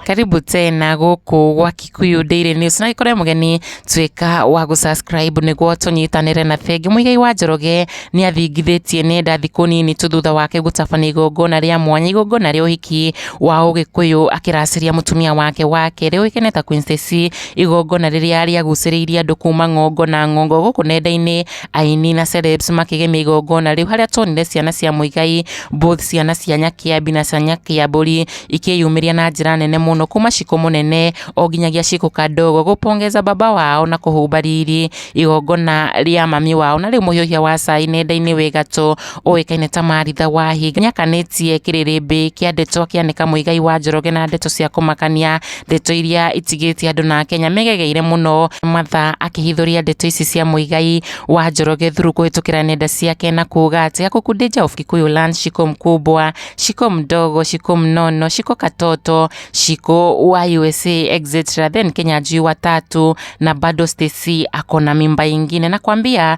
karibu tena guku gwa Kikuyu Daily News na ikore mugeni twika wa gu subscribe niguo tunyitanire na Bengi Muigai wa Njoroge ni athingithitie nenda thiku nini tu thutha wake gutabana igongona ria mwanya igongona ria uhiki wa Ugikuyu akiraciria mutumia wake wa keri uikene ta Queen Stacy Igongona rĩrĩa rĩagucĩrĩirie andũ kuma ng'ongo na ng'ongo gũkũ nenda-inĩ, aini na celebs makĩgemia igongona rĩu harĩa tuonire ciana cia Muigai, both ciana cia Nyakĩambi na cia Nyakĩambũri ikĩyumĩria na njĩra nene mũno kuma Shiko mũnene o nginyagia Shiko kadogo gũ pongeza baba wao na kũhumba riri igongona rĩa mami wao na rĩu mũhiũhia wa cai nenda-inĩ wĩ gatũ ũĩkaine ta Maritha Wahi nĩakanĩtie kĩrĩrĩmbĩ kĩa ndeto kĩa Nĩ Kamũigai wa Njoroge na ndeto cia kũmakania, ndeto iria itigĩte andũ na Akenya megegeire mũno mathaa akĩhithũria ndeto ici cia Mũigai wa Njoroge thuru kũhĩtũkĩra nenda ciake na kuuga atĩ Gakuku Deja of Kikuyu Land Shiko Mkubwa, Shiko Mdogo, Shiko Mnono, Shiko Katoto, Shiko wa USA etc then Kenya Juu wa Tatu na bado Stacy ako na mimba ingine na kwambia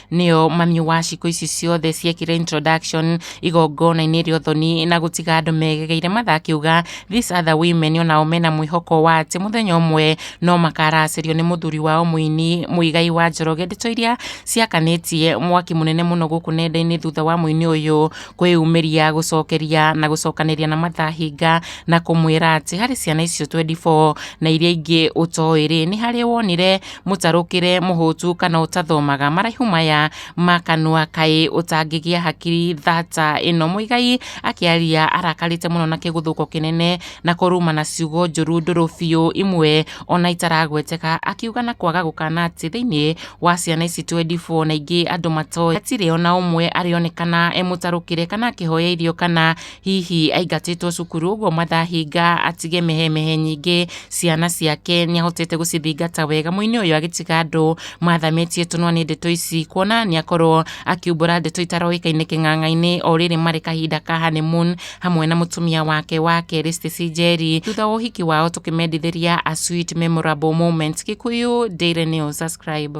nĩo mami wa cikũ ici ciothe ciekire introduction igongona-inĩ rĩa ũthoni na gũtiga andũ megegeire matha akiuga these other women onao mena mwĩhoko wa atĩ mũthenya ũmwe no makaracĩrio nĩ mũthuri wao mũini mũigai wa njoroge ndeto iria ciakanĩtie mwaki mũnene mũno gũkũ nenda-inĩ thutha wa mũini ũyũ kwĩyumĩria gũcokeria na gũcokanĩria na matha hinga na kũmwĩra atĩ harĩ ciana icio 24 na iria ingĩ ũtoĩ rĩ nĩ harĩ wonire mũtarũkĩre mũhũtu kana ũtathomaga maraihu maya ma kanua kaĩ ũtangĩgĩa hakiri thata ĩno mũigai akĩaria arakarĩte mũno na kĩgũthũko kĩnene na kũruma na ciugo njũru ndũrũ biũ imwe ona itaragweteka akiuga na kwaga gũkana atĩ thĩinĩ wa ciana ici 24 na ingĩ andũ matoĩ hatirĩ ona ũmwe arĩonekana e mũtarũkĩre kana akĩhoya irio kana Hihi aingatĩtwo cukuru ũguo mathahinga atige mehemehe nyingĩ ciana ciake nĩahotete gũcithingata wega mũini ũyũ agĩtiga andũ mathamĩtie tũnua nĩ ndeto ici kuona nĩakorwo akiumbũra ndeto itaroĩkaine kĩng'ang'a-inĩ o rĩrĩ marĩ kahinda ka honeymoon hamwe na mũtumia wake wa kerĩ Stacey Njeri thutha wa ũhiki wao tũkĩmendithĩria a sweet memorable moment Kikuyu Daily News subscribe